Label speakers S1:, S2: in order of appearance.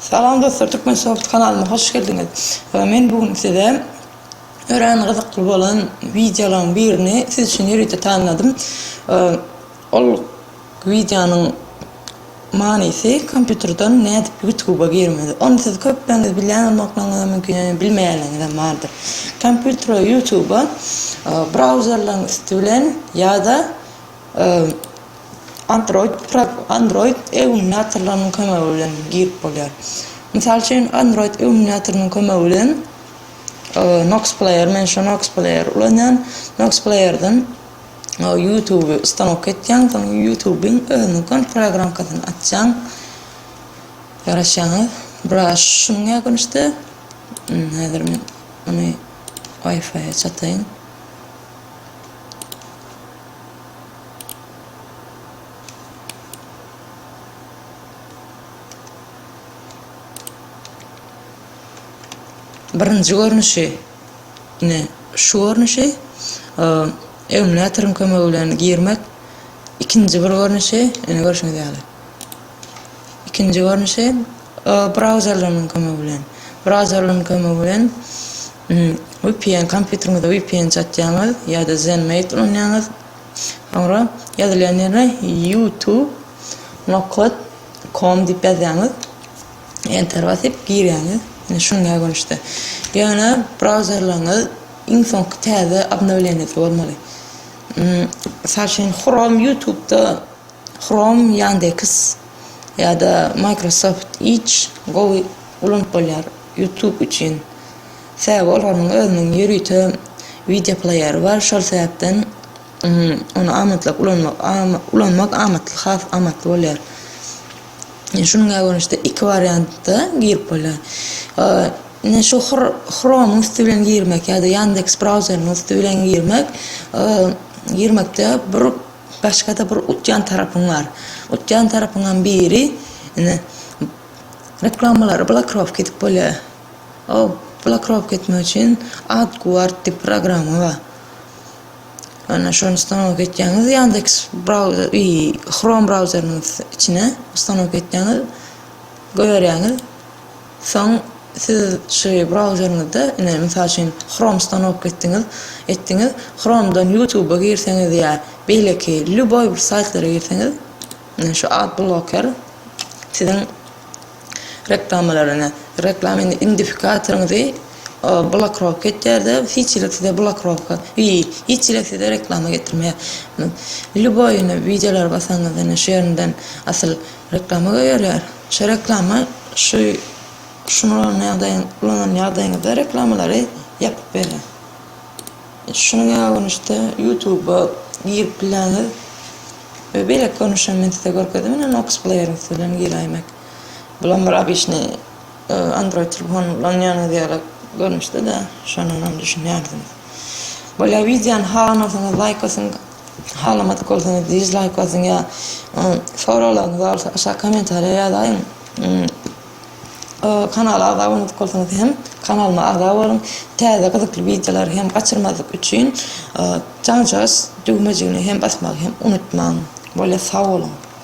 S1: Salam dostlar Turkmensoft kanalyma hoş geldiňiz. Men bu gün size örän gyzykly bolan wideolaryň birini siz üçin ýörite taýynladym. Ol wideonyň manysy kompýuterden nädip ýutuba girmeli. Ony siz köpleriniz bilýän bolmaklygyňyz mümkin ýöne bilmeýänleriňizem bardyr. Kompýutere ýutuba brauzerleriň üsti bilen ýa-da Android Android emulýatorlarynyň kömegi bilen girip bolýar. Mysal üçin, Android emulýatorynyň kömegi bilen Nox Player, men şu Nox Player ulanýan. Nox Playerden YouTube stanok etýän, soň YouTube-iň özüniň kont programkasyny açýan. Garaşýaňyz, biraz şunuň ýagynçdy. Häzir men ony Wi-Fi-e çataýyn. Birinji görnüşi, ine şu görnüşi emulatoryň kömegi bilen girmek. Ikinji bir görnüşi, ine görşüňiz ýaly. Ikinji görnüşi, brauzerleriň kömegi bilen. Brauzerleriň kömegi bilen vpn, kompýuteriňize vpn çatýaňyz ýa-da Zenmate ulanýaňyz. Soňra ýazylýan ýere YouTube nokot com diýip ýazýaňyz. Enter basyp girýäňiz. Ine şuňa görnüşde. Ýöne brauzerleriňiz iň soňky täze obnowleniýasy bolmaly. Mysal üçin, Chrome YouTube-da Chrome, Yandex ýa-da Microsoft Edge gowy ulanyp bolýar YouTube üçin. Sebäbi olaryň özüniň ýörite wideo pleýeri bar, şol sebäpden ony amatlyk ulanmak ulanmak amatly, has amatly bolýar. Şunuňa görnüşde iki wariantda girip bolýar. Ine şu Chrome-yň üsti bilen girmek ýa-da Yandex brauzerynyň üsti bilen girmek girmekde bir Başga-da bir utýan tarapyň bar. Utýan tarapyňam biri, ine, reklamalary blokirovka edip bolýar. O blokirovka etmek üçin AdGuard diýip programma bar. Ýöne şony ustanowka etýäňiz, Yandex brauzer, i, Chrome brauzerynyň içine ustanowka etýäňiz, goýberýäňiz. Soň siz şu brauzeriňizde, ine, mysal üçin, Chrome stanok etdiňiz, etdiňiz, Chrome-dan YouTube-a girseňiz ýa beýleki lýuboý bir saýtlara girseňiz, ine, şu ad bloker siziň reklamalary, ine, reklama indi indifikatoriňizi blokirovka etýär-de, hiç hili size blokirovka, i, hiç hili size reklama getirmeýär. Lýuboý, ine, wideolara basaňyz, ine, şu ýerinden asyl Reklama göýerler. Şo reklama şu şuny ulan ýagdaýyň ulanan ýagdaýyňyzda reklamalary ýapyp berýär. Şunuň ýaly görnüşde ýutuba girip bilýäňiz we beýleki görnüş hem men size görkezdim ine nox pleýeriň üsti bilen giräýmek. Bulam bir obyçnyý android telefony ulanýanyňyz ýaly görnüşde-de şondanam düşünýärsiňiz. Bolýa wideony halanarsyňyz laýk basyň. Halamadyk bolsaňyz dizlaýk basyň ýa soraglaryňyz barsa aşak kommentariýa ýazaýyň. Kanala agza bolmadyk bolsaňyz hem kanalyma agza boluň. Täze gyzykly wideolary hem gaçyrmazlyk üçin jaňjagyş düwmejigini hem basmagy hem unutmaň. Bolýa sag boluň.